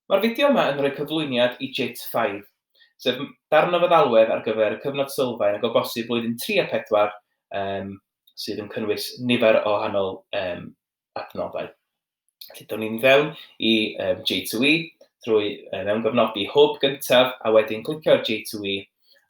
Mae'r fideo yma yn rhoi cyflwyniad i JIT five, sef darn o feddalwedd ar gyfer y cyfnod sylfaen ac o bosib blwyddyn tri a phedwar yym sydd yn cynnwys nifer o wahanol yym adnoddau. Felly, down ni'n fewn i um, J2E drwy uh, mewn gofnodi hwb gyntaf a wedyn clicio ar J2E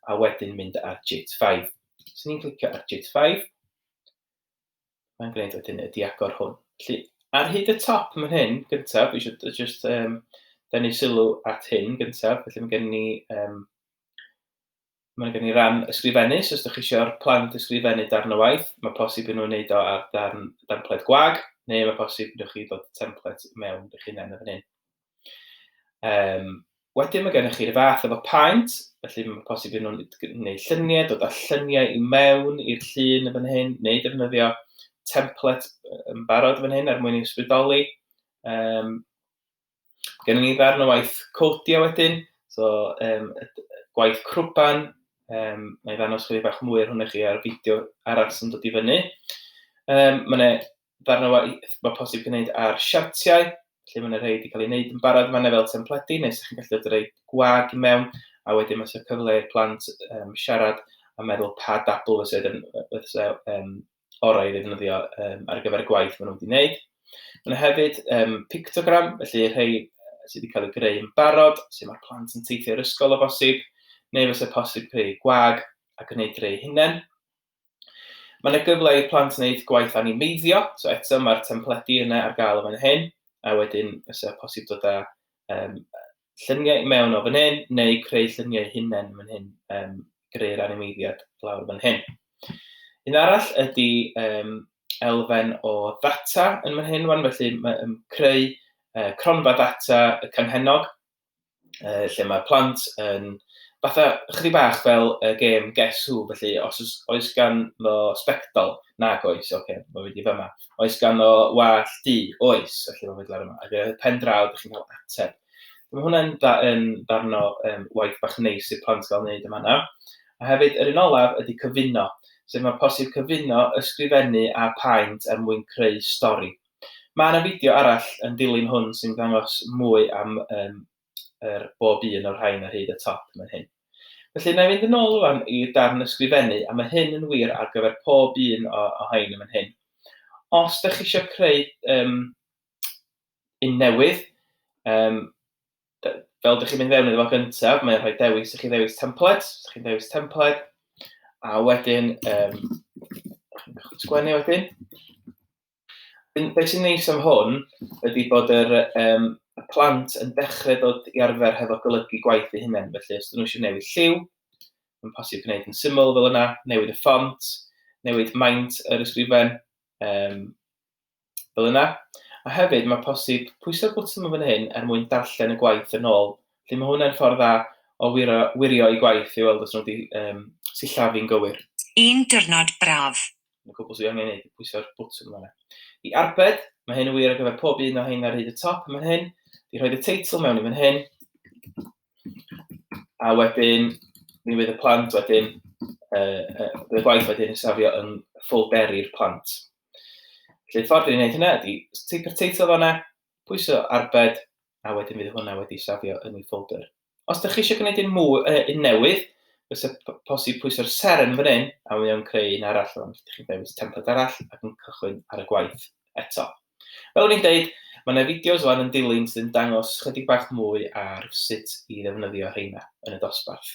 a wedyn mynd ar JIT 5. Os ni'n clicio ar JIT 5, mae'n gwneud wedyn y diagor hwn. Felly, ar hyd y top yn fan hyn, gyntaf, dwi eisiau just um, denu sylw at hyn gyntaf, felly mae gen ni um, Mae gen i ran ysgrifennu, so os ydych chi eisiau'r plant ysgrifennu darn o waith, mae posib i nhw'n wneud o ar darn, darn pled gwag, neu mae posib i chi ddod template mewn eich hunain yn fan hyn. Um, wedyn mae gennych chi'r fath efo paent, felly mae'n posib iddyn nhw'n gwneud lluniau, dod â lluniau i mewn i'r llun yn fan hyn, neu defnyddio template yn barod yn fan hyn er mwyn i'w sbrydoli. Um, Gennym ni ddarn o waith codio wedyn, so um, gwaith crwban, um, mae ddangos chwilio bach mwy ar hwnna chi ar y fideo arall sy'n dod i fyny. Um, mae yna Darnau waith mae posib gwneud ar siartiau, felly mae 'na rhai 'di cael eu wneud yn barod fan'na fel templedi, neu 'sa chi'n gallu dod â rhai gwag i mewn, a wedyn mae 'na cyfle i'r plant um, siarad a meddwl pa dabl fysa yn, fysa, um, orau i ddefnyddio um, ar gyfer y gwaith maen nhw wedi wneud. Mae yna hefyd um, pictogram, felly rhai sydd wedi cael eu greu yn barod, sy'n mae'r plant yn teithio i'r ysgol o bosib, neu fysa posib creu gwag a gwneud rhai hunain. Mae yna gyfle i'r plant wneud gwaith animeiddio, so eto mae'r templedi yna ar gael yn fan hyn, a wedyn fysa posib dod â um, lluniau mewn o fan hyn, neu creu lluniau hunain fan hyn, um, greu'r animeiddiad lawr fan hyn. Un arall ydy um, elfen o ddata yn fan hyn, wan, felly mae um, creu uh, cronfa ddata y canhennog, uh, lle mae plant yn fatha chdi bach fel y gêm Guess Who, felly os oes, oes gan no spectol, nag oes, oce, okay, mae wedi fyma. Oes gan no wall du, oes, felly mae wedi ar yma. Ac y pen draw, ydych chi'n cael ateb. Mae hwnna'n da, yn darn o um, waith bach neis i'r plant gael wneud yma na. A hefyd, yr un olaf ydy cyfuno, sef mae posib cyfuno ysgrifennu a paent er mwyn creu stori. Mae yna fideo arall yn dilyn hwn sy'n dangos mwy am um, er bob un o'r rhain ar hyd y top yn hyn. Felly, na i fynd yn ôl rwan i darn ysgrifennu, a mae hyn yn wir ar gyfer pob un o, o hain yn hyn. Os da chi eisiau creu um, un newydd, um, fel ydych chi'n mynd fewn iddo fo gyntaf, mae'n rhoi dewis, ydych chi'n dewis templed, ydych chi'n dewis templed, a wedyn, um, sgwennu wedyn, Be sy'n neis am hwn ydy bod yr yym y plant yn dechrau dod i arfer hefo golygu gwaith eu hunain, felly os ydyn nhw eisiau newid lliw, mae'n posib gwneud yn syml fel yna, newid y ffont, newid maint yr ysgrifen, um, fel yna. A hefyd mae posib pwyso'r bwtwm yn fan hyn er mwyn darllen y gwaith yn ôl. Felly mae hwnna'n ffordd dda o wiro, wirio i gwaith i weld os nhw wedi um, sillafu'n gywir. Un diwrnod braf. Yn y cwbl sydd angen ei wneud, pwyso'r botwm yma. I arbed, mae hyn yn wir ar gyfer pob un o hyn ar hyd y top yn fan hyn. Fi rhoi y teitl mewn i fan hyn. A wedyn, mi fydd y plant wedyn, uh, uh, bydd y gwaith wedyn yn safio yn ffolderi'r plant. Felly, y ffordd i'n gwneud hynna ydy, teipo'r teitl fanna, pwyso arbed, a wedyn fydd hwnna wedi safio yn ei ffolder. Os ydych chi eisiau gwneud un, mwy, uh, un newydd, fysa posib pwyso'r seren fan hyn, a mi o'n creu un arall, ond ydych chi'n dewis templed arall ac yn cychwyn ar y gwaith eto. Fel o'n i'n deud, mae yna fideos fan yn dilyn sydd yn dangos chydig bach mwy ar sut i ddefnyddio rheina yn y dosbarth.